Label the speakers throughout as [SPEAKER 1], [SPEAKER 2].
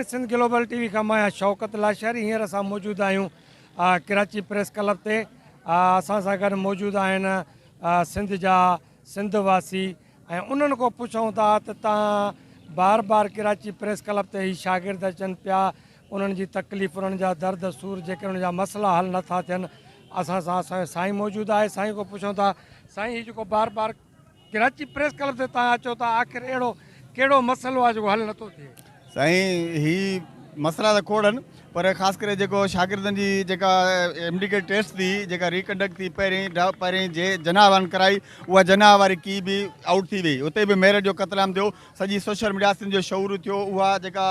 [SPEAKER 1] Sindh global T V کان مان آهيان شوڪت لاشاري هينئر اسان موجود آهيون ڪراچي پريس ڪلب تي اسان سان گڏ موجود آهن سنڌ جا سنڌ واسي ۽ انهن کان پڇون ٿا ته تان بار بار ڪراچي پريس ڪلب تي هي شاگرد اچن پيا انهن جي تڪليف انهن جا درد سور جيڪي انهن جا مسئلا حل نٿا ٿين اسان سان اسان سائين موجود آهي سائين کان پڇون ٿا سائين هي جيڪو بار بار ڪراچي پريس ڪلب تي تان اچو ته آخر اهڙو ڪهڙو مسئلو آهي جيڪو حل نٿو ٿئي. سائين هي
[SPEAKER 2] مسئلا ته کوڙ آهن پر خاص ڪري جيڪو شاگردن جي جيڪا ايم ڊي ڪيٽ ٽيسٽ ٿي جيڪا ري ڪنڊڪٽ ٿي پهرين پهرين جي جناح وارن ڪرائي اها جناح واري ڪي به آئوٽ ٿي وئي اتي به ميرٽ جو قتل عام ٿيو سڄي سوشل ميڊيا سنڌ جو شعور ٿيو اها جيڪا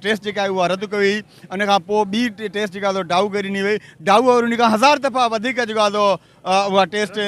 [SPEAKER 2] ٽيسٽ جيڪا آهي اها رد ڪئي ان کان پوء ٻي ٽيسٽ جيڪا ڊائو ڪري ڏني وئي ڊائو وري ان کان هزار دفعا وڌيڪ جيڪا اها ٽيسٽ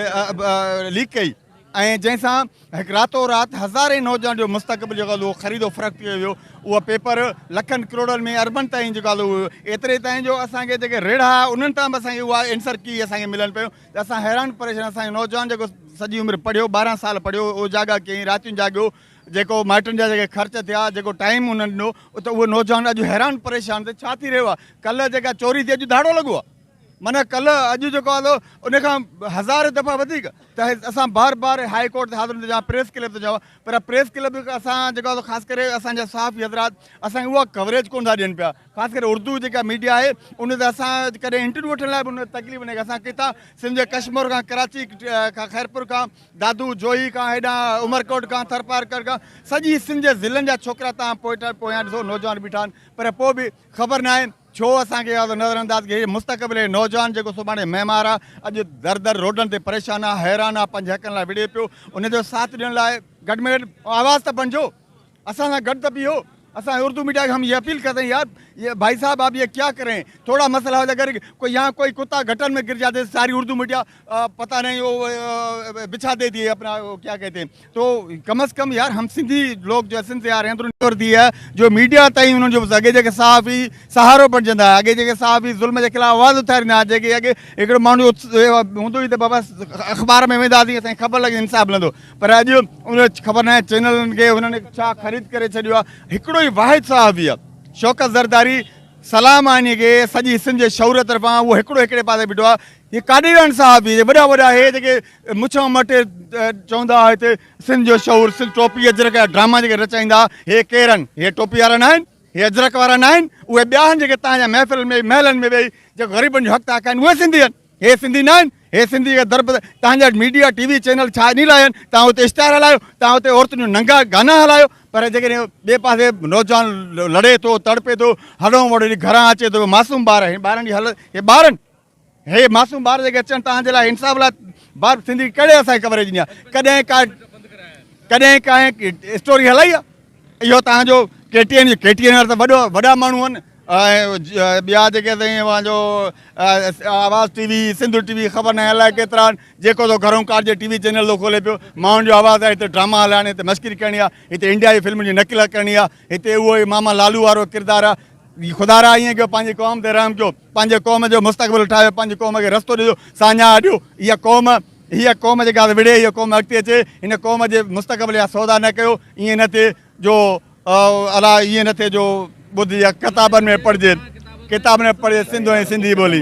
[SPEAKER 2] ليڪ ڪئي ۽ جنهن سان هڪ راتو رات هزارين نوجوان جو مستقبل جيڪو آهي خريد و فروخت ڪيو ويو اهو پيپر لکن ڪروڙن ۾ اربن تائين جيڪو آهي هو ايتري تائين جو اسان کي جيڪي ريڙها انهن تان به اسان کي اها انسر ڪي اسان کي ملن پيو ته اسان حيران پريشان اسان جو نوجوان جيڪو سڄي عمر پڙهيو ٻارهن سال پڙهيو او جاڳا ڪيئي راتيون جاڳيو جيڪو مائٽن جا جيڪي خرچ ٿيا جيڪو ٽائيم انهن ڏنو ته اهو نوجوان اڄ حيران پريشان ته ڇا ٿي رهيو آهي ڪلهه جيڪا چوري ٿي اڄ ڌاڙو لڳو آهي معنيٰ ڪلهه اڄ جيڪو آندو ان کان هزار دفعا وڌيڪ ته اسان بار بار هاء ڪورٽ تي حاضر هوندو جا پريس ڪلب تي جاء پر پريس ڪلب اسان جيڪو آندو خاص ڪري اسان جا صحافي حضرات اسان کي اها ڪوريج ڪون ٿا ڏين پيا خاص ڪري اردو جيڪا ميڊيا آهي ان تي اسان ڪڏهن انٽرويو وٺڻ لاء به ان تڪليف نه اسان ڪتا سنڌ جي ڪشمور کان ڪراچي کان خيرپور کان دادو جوهي کان هيڏا عمرڪوٽ کان ٿرپار کان سڄي سنڌ جي ضلعن جا ڇوڪرا تان پوئٽا پويان ڏسو نوجوان بيٺا آهن پر پوء به خبر ناهي ڇو اسان کي اها نظر انداز ڪئي مستقبل هي نوجوان جيڪو سڀاڻي معمار آ اڄ در در روڊن تي پريشان آ حيران آ پنهنجي حقن لاء وڙهي پيو ان جو ساٿ ڏيڻ لاء گڏ ۾ گڏ آواز ته بڻجو اسان سان گڏ ته بيهو اسان اردو ميڊيا کي هم هي اپيل ڪرتين يار يا ڀائي صاحب اب يي ڪيا ڪرين ٿورا مسئلا هو جا ڪري ڪو يا ڪوئي ڪتا گهٽن ۾ گر جاتي ساري اردو ميڊيا پتا نهين او بچھا دي ديئي اپنا ڪيا ڪهتي هين تو ڪم از ڪم يار هم سنڌي لوگ جو اسنس يار هيندرو نيور دي هي جو ميڊيا تائين انهن جو اڳي جيڪي صحافي سهارو بڻجندا هيا اڳي جيڪي صحافي ظلم جي خلاف آواز اٿاريندا هيا جيڪي اڳي هڪڙو ماڻهو هوندو هي ته بابا اخبار ۾ ويندا سين اسانکي خبر لڳي انصاف ملندو پر اڄ ان خبر ناهي چينلن کي انهن ڇا خريد ڪري ڇڏيو آ هڪڙو ئي واحد صحافي آ شوڪت زرداري سلام آني کي سڄي سنڌ جي شعور طرفان اهو هڪڙو هڪڙي پاسي بيٺو آ هي قادياني صاحب هي وڏا وڏا هي جيڪي مڇان مٽي چوندا هئا هتي سنڌ جو شعور سنڌ ٽوپي اجرڪ جا ڊراما جيڪي رچائيندا هي ڪير آهن هي ٽوپي وارا نه آهن هي اجرڪ وارا نه آهن اهي ٻيا آهن جيڪي تان جا محفل ۾ محلن ۾ ويهي جيڪو غريبن جو حق تان ڪن اهي سنڌي آهن هي سنڌي نه آهن هي سنڌي جا درب تان جا ميڊيا ٽي وي چينل ڇا اني لاء آهن تان هتي اشتهار هلايو تان هتي عورتن جو ننگا گانا هلايو پر جيڪڏهن ٻئي پاسي نوجوان لڙي ٿو تڙپي ٿو هڏون وڙي گهران اچي ٿو معصوم ٻار هي ٻارن جي حالت هي ٻارن هي معصوم ٻار جيڪي اچن تان جي لاء انصاف لاء بار سنڌي ڪهڙي اسان ڪوريج ڏيا ڪڏهن ڪا ڪڏهن ڪا اسٽوري هلائي آ اهو تان جو K T N K T N ته وڏو وڏا ماڻهو آهن ٻيا جيڪي سائين اوهان جو آواز ٽي وي سنڌو ٽي وي خبر نه الاء ڪيترا آهن جيڪو تو گهرون ڪار جي ٽي وي چينل تو کولي پيو ماڻهن جو آواز آهي هتي ڊراما هلائڻ هتي مشڪري ڪرڻي آ هتي انڊيا جي فلم جي نقل ڪرڻي آ هتي اهو ئي ماما لالو وارو ڪردار آ خدا را ائين ڪيو پنهنجي قوم تي رحم ڪيو پنهنجي قوم جو مستقبل ٺاهيو پنهنجي قوم کي رستو ڏجو ساڃاهه ڏيو اها قوم هيء قوم جيڪا وڙهي هيء قوم اڳتي اچي هن قوم جي مستقبل جا سودا نه ڪيو ائين نه ٿئي جو الا ائين نه ٿئي جو ٻڌ يا ڪتابن ۾ پڙهجي ڪتابن ۾ پڙهجي سنڌ ۽ سنڌي ٻولي.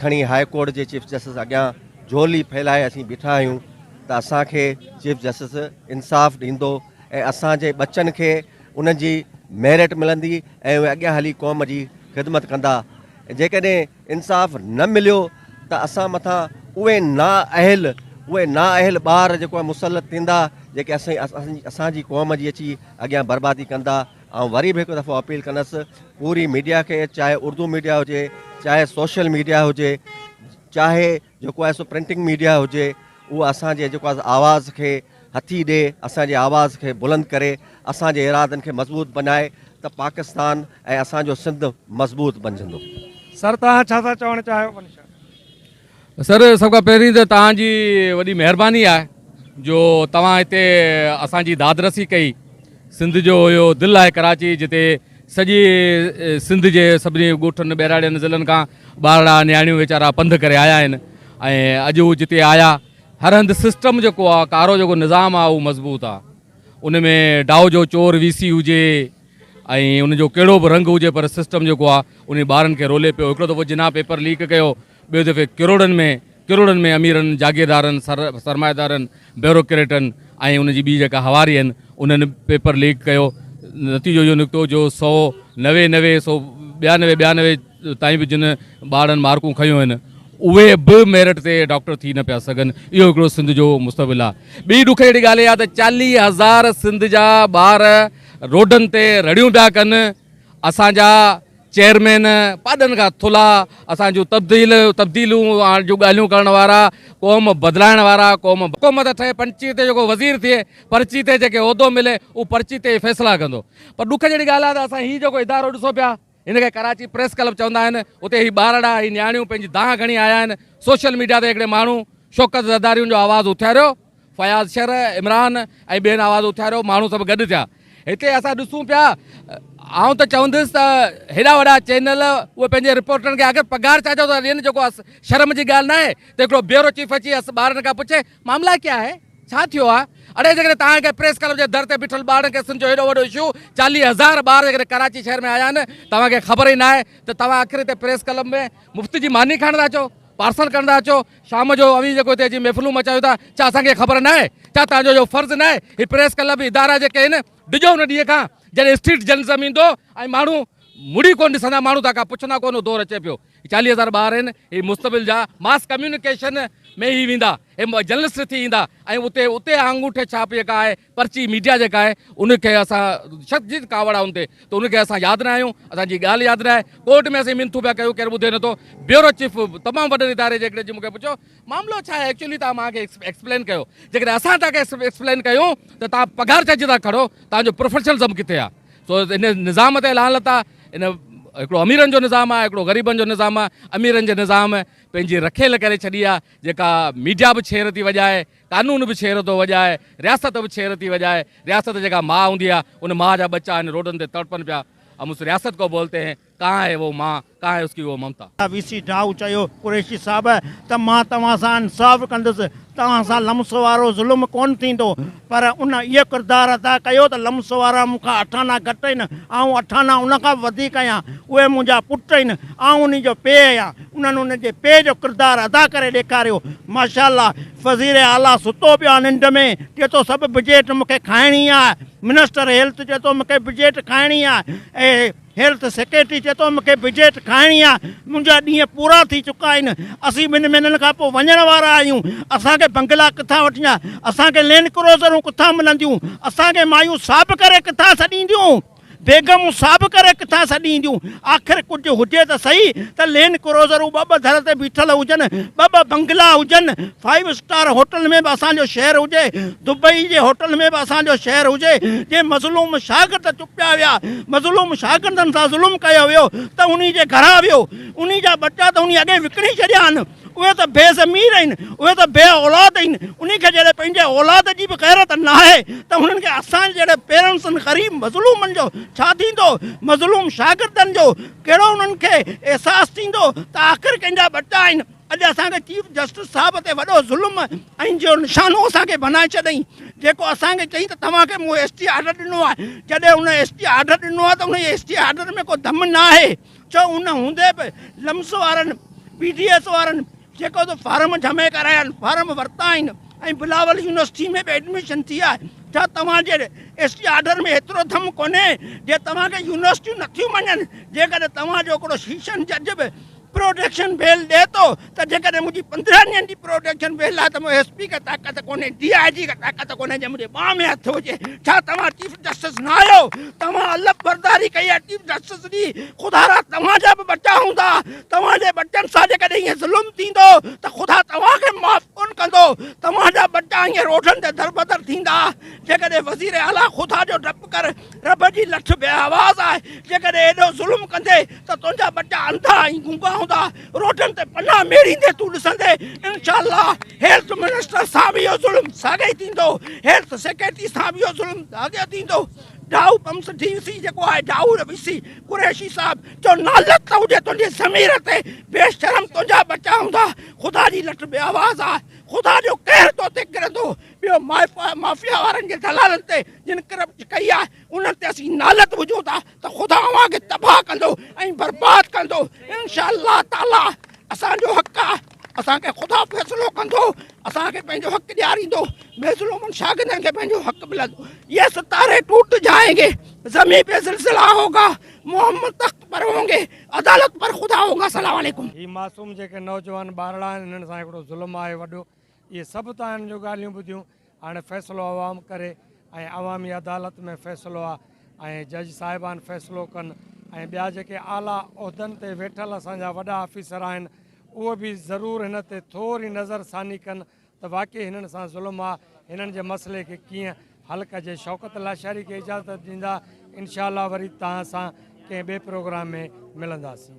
[SPEAKER 3] کڻي هاء ڪورٽ جي چيف جسٽس اڳيان جهولي ڦهلائي اسين بيٺا آهيون ته اسان کي چيف جسٽس انصاف ڏيندو ۽ اسان جي ٻچن کي انهن جي ميرٽ ملندي ۽ اهي اڳيان هلي قوم جي خدمت ڪندا جيڪڏهن انصاف نه مليو ته اسان مٿان اهي نا اهل اهي نا اهل ٻار جيڪو مسلط ٿيندا جيڪي اسان اسان جي قوم جي اچي اڳيان بربادي ڪندا آئون وري به هڪ دفعو اپيل ڪندس پوري ميڊيا کي چاهي اردو ميڊيا هجي چاهي سوشل ميڊيا هجي چاهي جيڪو آهي سو پرنٽنگ ميڊيا هجي اهو اسان جي جيڪو آهي آواز کي هٿي ڏي اسان جي آواز کي بلند ڪري اسان جي ارادن کي مضبوط بنائي ته پاڪستان ۽ اسان جو سنڌ مضبوط بنجندو سر توهان
[SPEAKER 1] ڇا ٿا چوڻ چاهيو سر سڀ کان
[SPEAKER 4] پهرين ته توهان جي وڏي مهرباني آهي جو توهان هتي اسان جي داد رسي ڪئي سنڌ جو اهو دل آهي ڪراچي جتي سڄي سنڌ جي سڀني ڳوٺن ٻهراڙين ضلعن کان ٻارڙا نياڻيون ويچارا پنڌ ڪري آيا آهن ۽ اڄ هو جتي آيا هر هنڌ سسٽم جيڪو آهي ڪارو جيڪو نظام آهي اهو مضبوط آهي ان ۾ ڊائو جو چور وي سي هجي ۽ ان جو ڪهڙو به رنگ هجي پر سسٽم جيڪو آهي ان ٻارن کي رولي پيو هڪڙو دفعو جناح پيپر ليڪ ڪيو ٻئي دفعي ڪروڙن ۾ ڪروڙن ۾ اميرن، جاگيردارن، سر سرمائيدارن، بيوروڪريٽن ۽ ان جي ٻي جيڪا هواري آهن انهن پيپر ليڪ ڪيو. نتيجو اهو نڪتو جو سؤ نوي نوي سؤ ٻيانوي ٻيانوي تائين به جن ٻارڙن مارڪون کنيون آهن اهي به ميرٽ تي ڊاڪٽر ٿي نه پيا سگهن. اهو هڪڙو سنڌ جو مستقبل آهي. ٻي ڏک جهڙي ڳالهه اها آهي ته چاليهه هزار سنڌ جا ٻار روڊن تي رڙيون پيا ڪن. اسان جا چيئرمين پاڏن کان ٿلها اسان جون تبديل تبديلون آڻ جون ڳالهيون ڪرڻ وارا قوم بدلائڻ وارا قوم حڪومت ٺهي پنچي تي جيڪو وزير ٿئي پرچي تي جيڪي عهدو ملي اهو پرچي تي ئي فيصلا ڪندو پر ڏک جهڙي ڳالهه آهي ته اسان هي جيڪو ادارو ڏسو پيا هن کي ڪراچي پريس ڪلب چوندا آهن اتي هي ٻارڙا هي نياڻيون پنهنجي دانهن کڻي آيا آهن سوشل ميڊيا تي هڪڙي ماڻهو شوڪت زرداريون جو آواز اٿاريو فياض شر، عمران ۽ ٻين آواز اٿاريو، ماڻهو سڀ گڏ ٿيا. هتي اسان ڏسون پيا، آئون ته چوندس ته هيڏا وڏا چينل اهي پنهنجي رپورٽرن کي آخر پگهار ڇا جو ٿا ڏين جيڪو اس شرم جي ڳالهه ناهي ته هڪڙو بيورو چيف اچي اس ٻارڙن کان پڇي معاملا ڪيا هي؟ ڇا ٿيو آهي؟ اڙي جيڪڏهن توهان کي پريس ڪلب جي در تي بيٺل ٻارڙن ڪيسن جو هيڏو وڏو اشو چاليهه هزار ٻار جيڪڏهن ڪراچي شهر ۾ آيا آهن توهان کي خبر ئي ناهي ته توهان آخر هتي پريس ڪلب ۾ مفت جي ماني کائڻ ٿا اچو؟ پارسل ڪرڻ ٿا اچو شام جو اوهين جيڪو هتي اچي محفلون مچايو ٿا ڇا اسان کي خبر ناهي ڇا تهان جو اهو فرض ناهي هي پريس ڪلب ادارا جيڪي آهن ڊڄو ان ڏينهن کان جڏهن اسٽريٽ جرنلزم ايندو ۽ ماڻهو مڙي ڪونه ڏسندا ماڻهو تهان کان پڇندا ڪونه اهو دور اچي پيو هي چاليهه هزار ٻار آهن هي مستقبل جا ماس ڪميونيڪيشن ۾ هي ويندا هي جرنلسٽ ٿي ايندا ۽ اتي اتي آڱوٺي ڇاپ جيڪا آهي پرچي ميڊيا جيڪا آهي ان کي اسان شخص جي ڪاوڙ آهي ان تي ته ان کي اسان ياد نه آهيون اسان جي ڳالهه ياد نه آهي ڪورٽ ۾ اسين منٿون پيا ڪيون ڪير ٻڌي نٿو بيورو چيف تمام وڏن اداري جيڪڏهن جي مون کي پڇيو معاملو ڇا آهي ايڪچولي تان مان کي ايڪسپلين ڪيو جيڪڏهن اسان تان کي ايڪسپلين ڪيون ته تان پگهار چئجي تان کڙو تان جو پروفيشنلزم ڪٿي آهي سو ان نظام تي لان لتا ان هڪڙو اميرن جو نظام آهي هڪڙو غريبن جو نظام آهي اميرن جي نظام پنهنجي رکيل ڪري ڇڏي آهي جيڪا ميڊيا به ڇير ٿي وڄائي قانون به ڇير ٿو وڄائي، رياست به ڇير ٿي وڄائي، رياست جيڪا ماء هوندي آهي، ان ماء جا ٻچا هن روڊن تي تڙپن پيا، اب اس رياست ڪو بولتي هين، ڪهان هي وو ماء، ڪهان هي اس ڪي وو ممتا. وي سي ڊاهو چيو
[SPEAKER 5] قريشي صاحب ته مان توهان سان انصاف ڪندس، توهان سان لمس وارو ظلم ڪونه ٿيندو، پر ان اهو ڪردار ادا ڪيو ته لمس وارا مون کان اٺ آنا گهٽ آهن، آئون اٺ آنا ان کان به وڌيڪ آهيان، اهي منهنجا پٽ آهن، آئون انهي جو پيء آهيان، انهن ان جي پيء جو ڪردار ادا ڪري ڏيکاريو. ماشاءالله وزير اعليٰ ستو پيو آ ننڊ ۾ چي ٿو سڀ بجيٽ مونکي کائڻي آ منسٽر هيلٿ چي ٿو مونکي بجيٽ کائڻي آ اي هيلٿ سيڪريٽري چي ٿو مونکي بجيٽ کائڻي آ منهنجا ڏينهن پورا ٿي چڪا آهن اسين ٻن مهينن کان پوء وڃڻ وارا آهيون اسان کي بنگلا ڪٿان وٺجندا اسان کي لينڊ ڪروزرون ڪٿان ملنديون اسان کي مايون صاحب ڪري ڪٿان سڏينديون بيگمون ساڀ ڪري ڪٿان سڏي اينديون؟ آخر ڪجهه هجي ته سهي ته لينڊ ڪروزرون ٻه ٻه ڌر تي بيٺل هجن، ٻه ٻه بنگلا هجن، فائيو اسٽار هوٽل ۾ به اسان جو شهر هجي، دبئي جي هوٽل ۾ به اسان جو شهر هجي، جي مظلوم شاگرد چپيا ويا، مظلوم شاگردن سان ظلم ڪيو ويو ته انهي جي گهران ويو، انهي جا ٻچا ته انهي اڳي وڪڻي ڇڏيا آهن. اهي ته بي ضمير آهن، اهي ته بي اولاد آهن، انهي کي جڏهن پنهنجي اولاد جي به غيرت ناهي ته هنن کي اسان جهڙن پيرنٽسن غريب مظلومن جو ڇا ٿيندو؟ مظلوم شاگردن جو ڪهڙو انهن کي احساس ٿيندو ته آخر ڪنهن جا ٻچا آهن؟ اڄ اسان کي چيف جسٽس صاحب تي وڏو ظلم ۽ جو نشانو اسان کي بنائي ڇڏيائين جيڪو اسان کي چئي ته توهان کي مون ايس ٽي آرڊر ڏنو آهي جڏهن هن ايس ٽي آرڊر ڏنو آهي ته انهي ايس ٽي آرڊر ۾ ڪو دم ناهي. جو ان هوندي به لمس وارن، پي ڊي ايس وارن جيڪو ته فارم جمع ڪرايا آهن، فارم ورتا آهن ۽ بلاول يونيورسٽي ۾ به ايڊميشن ٿي آهي، ڇا توهان جي ايس ٽي آرڊر ۾ ايترو دم ڪونهي جي توهان کي يونيورسٽيون نٿيون مڃن، جيڪڏهن توهان جو هڪڙو سيشن جج به پروٽيڪشن بيل ڏئي ٿو ته جيڪڏهن منهنجي پندرهن ڏينهن جي پروڊڪشن فيل آهي ته مون ايس پي کي طاقت ڪونهي، ڊي آء جي کي طاقت ڪونهي جي منهنجي ٻانهن ۾ هٿ هجي. ڇا توهان چيف جسٽس نه آهيو؟ توهان الف برداري ڪئي آهي چيف جسٽس جي. خدا را توهان جا به ٻچا هوندا. توهان جي ٻچن سان جيڪڏهن ائين ظلم ٿيندو ته خدا توهان کي معاف ڪونه ڪندو. توهان جا ٻچا ائين روڊن تي دربدر ٿيندا. جيڪڏهن وزير اعليٰ خدا جو ڊپ ڪر، رب جي لٺ بي آواز آهي. جيڪڏهن ايڏو ظلم ڪندين ته تنهنجا ٻچا انڌا ۽ گونگا هوندا. روڊن تي پناهه ميڙيندي تون ڏسندين انشاء الله هيلٿ منسٽر سان به اهو ظلم ساڳي ئي ٿيندو هيلٿ سيڪريٽري سان به اهو ظلم ساڳيو ٿيندو ڊاهو پمس ڊي سي جيڪو آهي ڊاهو ڊي سي قريشي صاحب جو نالت ته هجي تنهنجي ضمير تي بي شرم تنهنجا بچا هوندا خدا جي لٽ بي آواز آ خدا جو قهر تو تي ڪرندو ٻيو مافيا وارن جي دلالن تي جن ڪرپٽ ڪئي آ انهن تي اسين نالت هجون ٿا ته خدا اوهان کي تباهه ڪندو ۽ برباد ڪندو انشاء الله تعالي اسان جو حق آ اسان کي خدا فيصلو ڪندو اسان کي پنهنجو حق ڏياريندو مظلومن شاگردن کي پنهنجو حق ملندو یہ ستاري ٽوٽ جائیں گے زمين پہ زلزلہ ہوگا محمد تخت پر ہوں گے عدالت پر خدا ہوگا السلام عليڪم هي معصوم جيڪي
[SPEAKER 1] نوجوان ٻارڙا آهن هنن سان هڪڙو ظلم آهي وڏو اهي سڀ تان هن جون ڳالهيون ٻڌيون هاڻي فيصلو عوام ڪري ۽ عوامي عدالت ۾ فيصلو آ ۽ جج صاحبان فيصلو ڪن ۽ ٻيا جيڪي اعليٰ عهدن تي ويٺل اسان جا وڏا آفيسر آهن اهي به ضرور هن تي ٿوري نظر ثاني ڪن ته واقعي هنن سان ظلم آ هنن جي مسئلي کي ڪيئن حل ڪجي شوڪت لاشاري کي اجازت ڏيندا انشاء الله وري توهان سان ڪنهن ٻئي پروگرام ۾ ملنداسين.